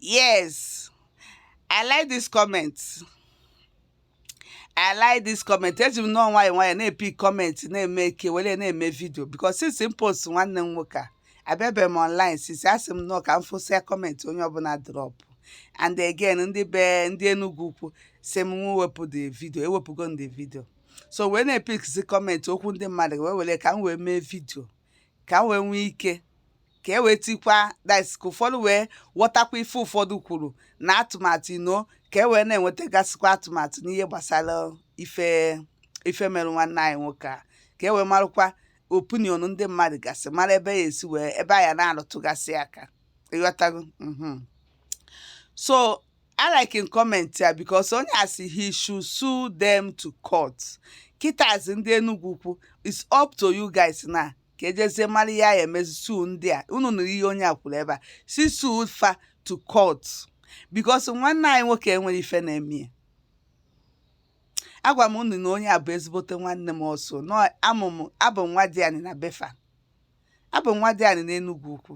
yes i like this comment i like this comment eji m nnọọ nwayọ nwayọ na-epick comment na-eme eke were na-eme vidio because since m post nwanne m nwoke a abịabe m online since asị m nnọọ ka m fụsịa comment onye ọbụla drop and again ndị be ndị Enugu ukwu sị m nwa wepụ the video ewepụgo m the video so wee na-epickzi comment okwu ndị mmadụ wee were ka m wee mee vidio ka m wee nwee ike ka e wee tikwa that's ka ụfọdụ wee ghọtakwa ife ụfọdụ kwuru na atụmatụ you know ka e wee na-enwetagasịkwa atụmatụ n'ihe gbasara ife ife mere nwanne anyị nwoke a ka e wee marakwa opinion ndị mmadụ gasị mara ebe a ya-esi wee ebe a ya na-arụtụgasị aka ịghọtago mhm. so I like in comment ya because onye a sị he should sue them to court kịtazi ndị Enugu ukwu it's up to you guys na ka e jezie mara ihe a ya-emezi sue ndị a unu nụrụ ihe onye a kwuru ebe a sị sue fa to court because nwanne anyị nwoke enwere ife na-eme ya agwa m unu na onye a bụ ezigbote nwanne m ọsọ na amụ m abụ m nwadịanị na be fa abụ m nwadịanị n'Enugwu ukwu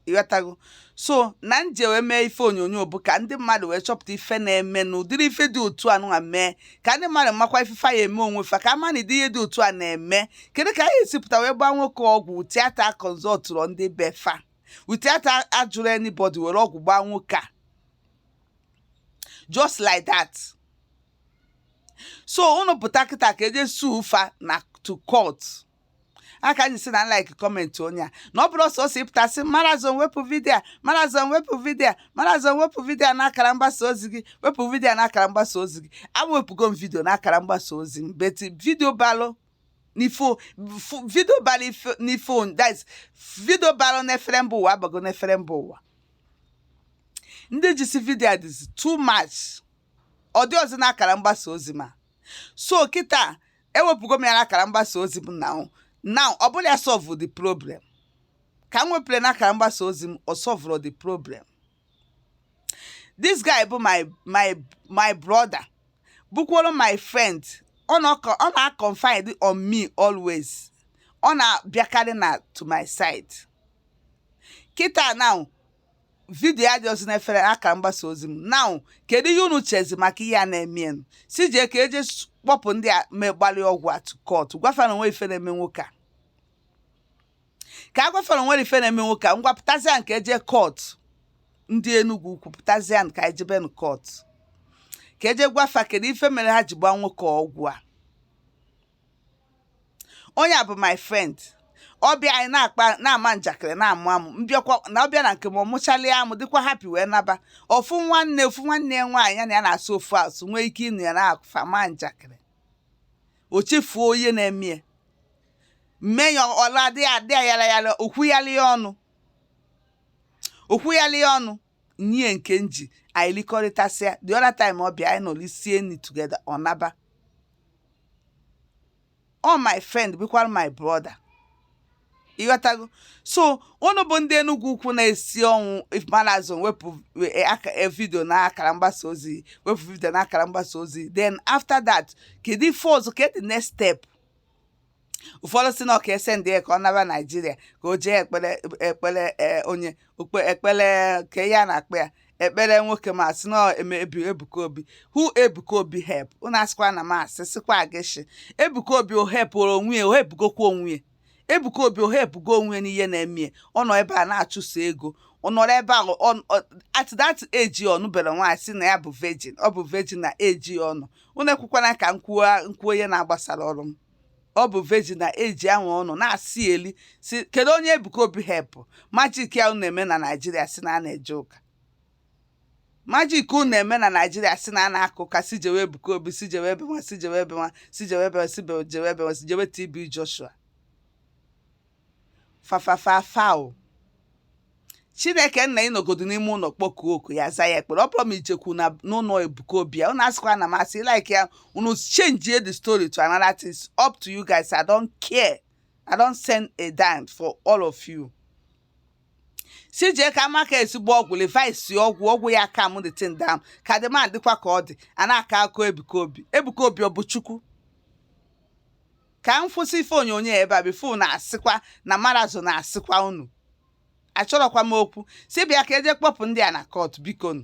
ịghọtago so na m ji wee mee ife onyonyo bụ ka ndị mmadụ wee chọpụta ife na-eme na ụdịrị ife dị otu a nwa mee ka ndị mmadụ makwa ife fa ya-eme onwe fa ka a ma na ụdị ihe dị otu a na-eme kedu ka a ya-esi pụta wee gbaa nwoke ọgwụ without consultụrụ ndị be fa without ajụrụ anybody were ọgwụ gbaa nwoke a just like that so unu pụta kịta ka e je sue fa na to court ya ka m ji sị na m like comment onye a na ọ bụrọ sọsọ ịpụta sị marazon wepụ vidio a marazon wepụ vidio a marazon wepụ vidio a n'akara mgbasa ozi gị wepụ vidio a n'akara mgbasa ozi gị ewepụgo m vidio n'akara mgbasa ozi m but vidio balụ n'ifo vidio balụ n'ifo this vidio balụ n'efere mba ụwa abago n'efere mba ụwa ndị jisi vidio a dịzi too much ọ dịrọzi n'akara mgbasa ozi m so kịta ewepụgo m ya n'akara mgbasa ozi m na na ọ bụla ya solve the problem ka m wepụrụ n'akara mgbasa ozi m ọ solvụrụ the problem this guy bụ my my my brother bụkworo my friend ọ na-confide on me always ọ na-abịakarị na to my side kịta now vidio adịrọzi n'efere akara mgbasa ozi m now kedu ihe unu chezi maka ihe a na-emenụ sị jee ka e je kpọpụ ndị a gbalị ọgwụ a to court gwa fa na o nwee ife na-eme nwoke a ka a gwa fa na o nwere ife na-eme nwoke a ngwa pụtazianụ ka e je court ndị Enugu ukwu pụtazia ka e jebenụ court ka e je gwa fa kedu ife mere ha ji gbaa nwoke ọgwụ a onye a bụ my friend ọ bịa anyị na-akpa na-ama njakịrị na-amụ amụ m bịakwa na ọ bịa na nke m ọ mụchalịa amụ dịkwa happy wee naba ofu nwanne ofu nwanne ya nwaanyị ya na ya na-asụ ofu asụ nwee ike ịnụ ya na fa ma njakịrị o chefuo onye na-eme ya mme ya ọla dị ya dị ya yala yala okwu yala ya ọnụ okwu yala ya ọnụ nye nke m ji anyị likọrịtasịa the other time ọ bịa anyị nọrọ sie nri together ọ naba ọ my friend bụkwara my brother ịghọtago so unu bụ ndị Enugwu ukwu na-esi ọnwụ malazon wepụ e, e, vidio na akara mgbasa ozi wepụ vidio na akara mgbasa ozi then after that kedu ife ọzọ kedu next step ụfọdụ si na ọ ka e sendi ya ka ọ naba naijiria ka o jee ekpere ekpere ee, onye okpe ekpere ka ya na-ekpe ya ekpere nwoke m asị na ọ eme ebu- ebuka obi who ebuka obi help unu asịkwa na m asị sịkwa against ebuka obi o helpụrụ onwe ya o helpụgokwa onwe ya ebuka obi o helpụgo onwe ya n'ihe na-eme ya ọ nọ ebe a na-achụso ego ọ nọrọ ebe ahụ ọ- ọ- at that age ọ nụberọ nwaanyị si na ya bụ virgin ọ bụ virgin na age ọ nọ unu ekwukwana ka m kwuo m kwuo ihe na-agbasararọ m ọ bụ virgin na age a nwa ọ nọ na-asị ya eli si kedu onye Ebuka Obi help magic a unu na-eme na Naịjirịa si na a na-eje ụka magic unu na-eme na Naịjirịa si na a na-aka ụka si jewe Ebuka Obi si jewe ebe nwa si jewe ebe nwa si jewe ebe nwa si be- jewe ebe nwa si jewe TB Joshua fafafafao chineke nna ị nọgodu n'ime ụlọ kpọkuo oku ya-aza ya ekpere ọ bụrọ ma i jekwu na n'ụlọ ebuka obi a unu asịkwa na m asị like ya unu change the story to another thing It's up to you guys i don't care i don't send a dime for all of you si jee ka maka ezigbo ọgwụ levis ọgwụ ọgwụ ya calm the thing down ka the man dịkwa ka ọ dị a na-aka ụka ebuka obi ebuka obi ọ bụ chukwu ka m kwụsị ife onyonyo ebe a before unu asịkwa na marazụ na-asịkwa unu achọrọkwa m okwu si bịa ka e jee kpọpụ ndị a na court biko nụ